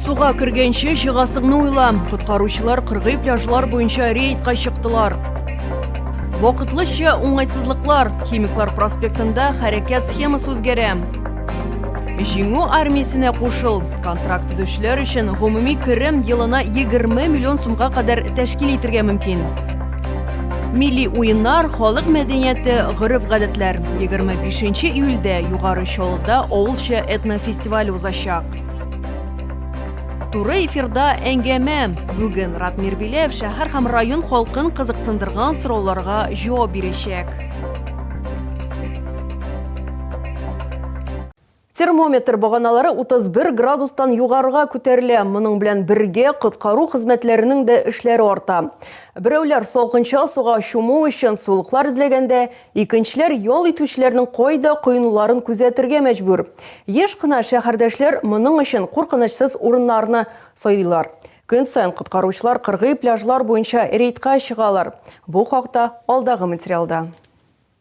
Суга кергәнче чыгасыңны уйла. Коткаручылар кыргый пляжлар буенча рейдка чыктылар. Вакытлыча уңайсызлыклар Химиклар проспектында хәрәкәт схемасы үзгәрә. Җиңү армиясенә кушыл. Контракт төзүчеләр өчен гомуми керем елына 20 миллион сумга кадәр тәшкил итергә мөмкин. Милли уеннар, халык мәдәнияте, гореф-гадәтләр. 25 июльдә Югары Чаллыда авылча этнофестиваль узачак. Туры эфирда әңгәмә. Бүген Ратмир Биләв шәһәр һәм район халкын кызыксындырган сорауларга җавап бирәчәк. Термометр баганалары 31 градустан югарыга күтәрелә. Моның белән бергә коткару хезмәтләренең дә эшләре арта. Берәүләр салкынча суга чуму өчен сулыклар эзләгәндә, икенчеләр ял итүчеләрнең кайда коенуларын күзәтергә мәҗбүр. Еш кына шәһәрдәшләр моның өчен куркынычсыз урыннарны сайлыйлар. Көн саен коткаручылар кыргый пляжлар буенча рейдка чыгалар. Бу хакта алдагы материалда.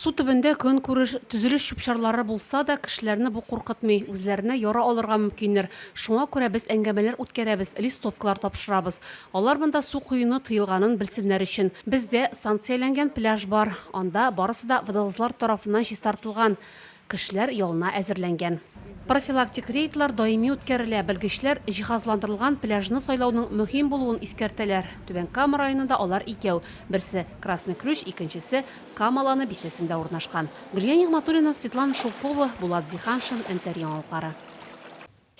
Су төбендә көнкүреш, төзелеш чүп-чарлары булса да, кешеләрне бу куркытмый, үзләренә яра алырга мөмкиннәр. Шуңа күрә без әңгәмәләр үткәрәбез, листовкалар тапшырабыз. Алар монда су коюны тыелганын белсеннәр өчен. Бездә санкцияләнгән пляж бар, анда барысы да водолазлар тарафыннан чистартылган. Кешеләр ялына әзерләнгән. Профилактик рейдлар даими үткәрелә, белгечләр җиһазландырылган пляжны сайлауның мөһим булуын искәртәләр. Түбән Кама районында алар икәү, берсе, Красный Ключ, икенчесе, Кама Ланы бистәсендә урнашкан. Гөлия Нигъмәтуллина, Светлана Шелкова, Булат Зиханшин, НТР яңалыклары.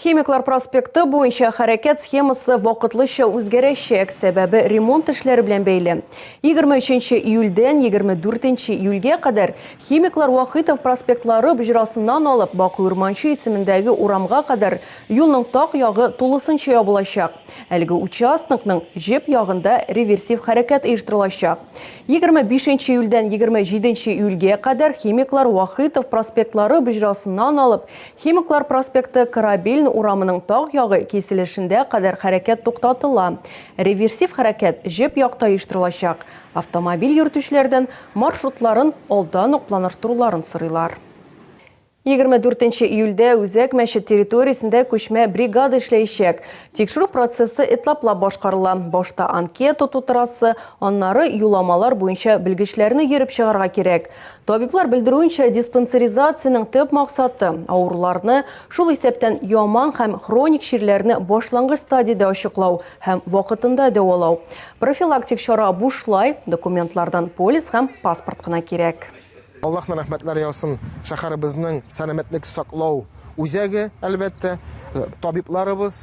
Химиклар проспекты буенча хәрәкәт схемасы вакытлыча үзгәрәчәк, сәбәбе ремонт эшләре белән бәйле. 23 нче июльдән 24 нче июльгә кадәр Химиклар Вахитов проспектлары боҗрасыннан алып Бакый Урманче исемендәге урамга кадәр юлның так ягы тулысынча ябылачак. Әлеге участокның җеп ягында реверсив хәрәкәт оештырылачак. 25 нче июльдән 27 нче июльгә кадәр Химиклар Вахитов проспектлары боҗрасыннан алып Химиклар проспекты Корабельн урамының таг ягы киселешендә кадәр хәрәкәт туктатыла. Реверсив хәрәкәт җеп якта оештырылачак. Автомобиль йөртүчеләрдән маршрутларын алдан ук планаштыруларын сорыйлар. Егерме дүртенче июльдә Үзәк мәчет территориясендә күчмә бригада эшләячәк. Тикшерү процессы этаплап башкарыла. Башта анкета тутырасы, аннары юламалар буенча белгечләрне йөреп чыгарга кирәк. Табиблар белдерүенчә, диспансеризациянең төп максаты, авыруларны, шул исәптән яман һәм хроник чирләрне башлангыч стадиядә ачыклау һәм вакытында дәвалау. Профилактик чара бушлай, документлардан полис һәм паспорт кына кирәк. Аллаһның рәхмәтләре яусын шәһәребезнең сәламәтлек саклау үзәге, әлбәттә, табибларыбыз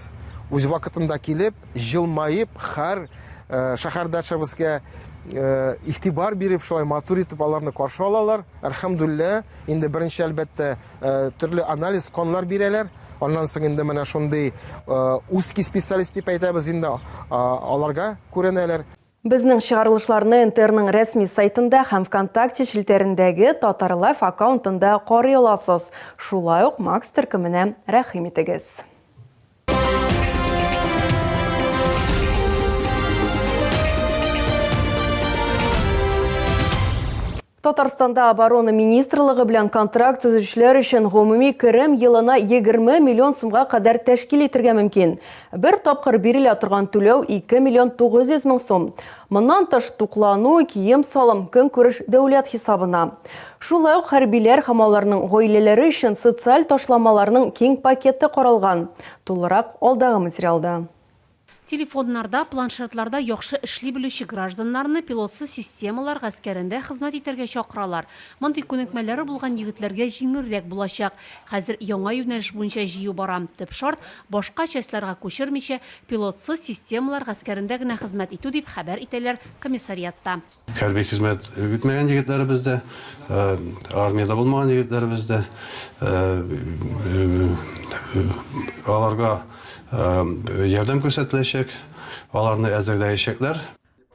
үз вакытында килеп, җылмаеп, хәр шәһәрдәшебезгә игътибар биреп, шулай матур итеп аларны каршы алалар. Әлхәмдүлиллә, инде беренче, әлбәттә, төрле анализ канлар бирәләр. Аннан соң инде менә шундый узкий специалист дип әйтәбез инде, аларга күренәләр. Безнең чыгарылышларны НТРның рәсми сайтында һәм Вконтакте челтәрендәге Татарлайф аккаунтында карый аласыз. Шулай ук Макс төркеменә рәхим итегез. Татарстанда оборона министрлыгы белән контракт төзүчеләр өчен гомуми керем елына 20 миллион сумга кадәр тәшкил итергә мөмкин. Бер тапкыр бирелә торган түләү 2 миллион 900 мең сум. Моннан тыш, туклану, кием-салым, көнкүреш дәүләт хисабына. Шулай ук хәрбиләр һәм аларның гаиләләре өчен социаль ташламаларның киң пакеты каралган. Тулырак алдагы материалда. Телефоннарда, планшетларда яхшы эшли белүче гражданнарны пилотсыз системалар гаскәрендә хезмәт итәргә чакыралар. Мондый күнекмәләре булган егетләргә җиңелрәк булачак. Хәзер яңа юнәлеш буенча җыю бара. Төп шарт, башка частьларга күчермичә, пилотсыз системалар гаскәрендә генә хезмәт итү, дип хәбәр итәләр комиссариатта. Хәрби хезмәт үтмәгән егетләребез дә, армиядә булмаган егетләребез дә, аларга ярдәм күрсәтеләчәк, аларны әзерләячәкләр.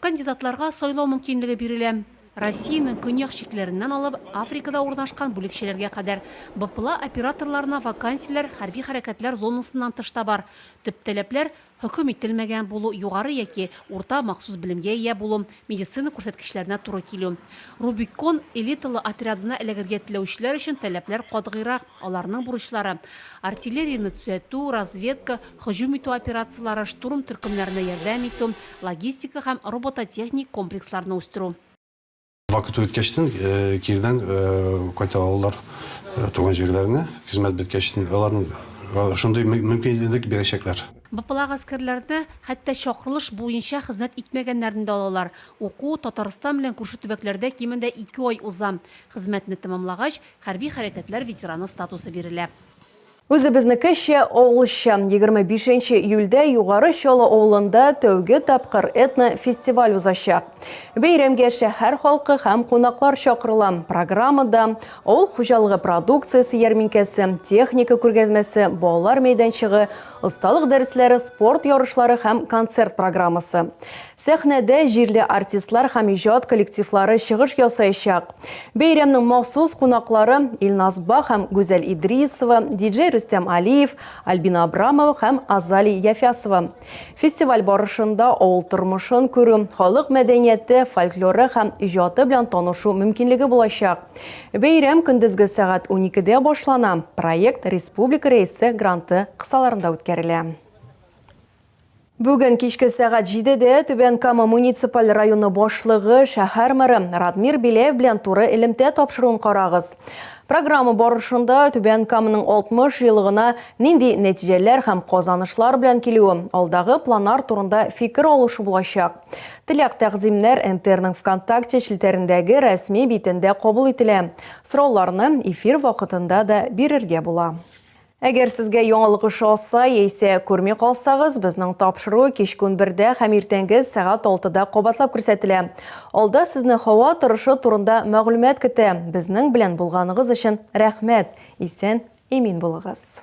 Кандидатларга сайлау мөмкинлеге бирелә. Россиянең көньяк чикләреннән алып, Африкада урнашкан бүлекчәләргә кадәр, БПЛА операторларына вакансияләр хәрби хәрәкәтләр зонасыннан тыш та бар. Төп таләпләр, Хөкем ителмәгән булу, югары яки урта махсус белемгә ия булу, медицина күрсәткечләренә туры килү. Рубикон элиталы отрядына эләгергә теләүчеләр өчен таләпләр катгыйрак, аларның бурычлары, артиллерияне төзәтү, разведка, һөҗүм итү операцияләре, штурм төркемнәренә ярдәм итү, логистика һәм робототехник комплексларны үстерү. Вакыты үткәчтен кирдән кайта алалар туган җирләренә, хезмәт беткәчтен аларның шундый мөмкинлек бирәчәкләр. БПЛА гаскәрләрне хәтта чакырылыш буенча хезмәт итмәгәннәрне дә алалар. Уку Татарстан белән күрше төбәкләрдә кимендә ике ай уза. Хезмәтне тәмамлагач, хәрби хәрәкәтләр ветераны статусы бирелә. Үзебезнекечә, авылча. Егерме бишенче июльдә Югары Чаллы авылында тәүге тапкыр этно-фестиваль узачак. Бәйрәмгә шәһәр халкы һәм кунаклар чакырыла. Программада, авыл хуҗалыгы продукциясе ярминкәсе, техника күргәзмәсе, балалар мәйданчыгы, осталык дәресләре, спорт ярышлары һәм концерт программасы. Сәхнәдә җирле артистлар һәм иҗат коллективлары чыгыш ясаячак. Бәйрәмнең махсус кунаклары Илназ Ба һәм Гүзәл Идрисова, диджей Рөстәм Алиев, Альбина Абрамова һәм Азали Яфясова. Фестиваль барышында авыл тормышын күрү, халык мәдәнияте, фольклоры һәм иҗаты белән танышу мөмкинлеге булачак. Бәйрәм көндезге сәгать уникедә башлана, проект республика рәисе гранты кысаларында үткәрелә. Бүген кичке сәгать җидедә Түбән Кама муниципаль районы башлыгы, шәһәр мэры Радмир Беляев белән туры элемтә тапшыруын карагыз. Программа барышында Түбән Каманың 60 еллыгына нинди нәтиҗәләр һәм казанышлар белән килүе, алдагы планар турында фикер алышу булачак. Теләк-тәкъдимнәр НТРның ВКонтакте челтәрендәге рәсми битендә кабул ителә. Сорауларны эфир вакытында да бирергә була. Әгәр сезгә яңалык ошаса яисә күрми калсагыз, безнең тапшыру кичке унбердә һәм иртәнге сәгать алтыда кабатлап күрсәтелә. Алда сезне һава торышы турында мәгълүмат көтә. Безнең белән булганыгыз өчен рәхмәт! Исән, имин булыгыз!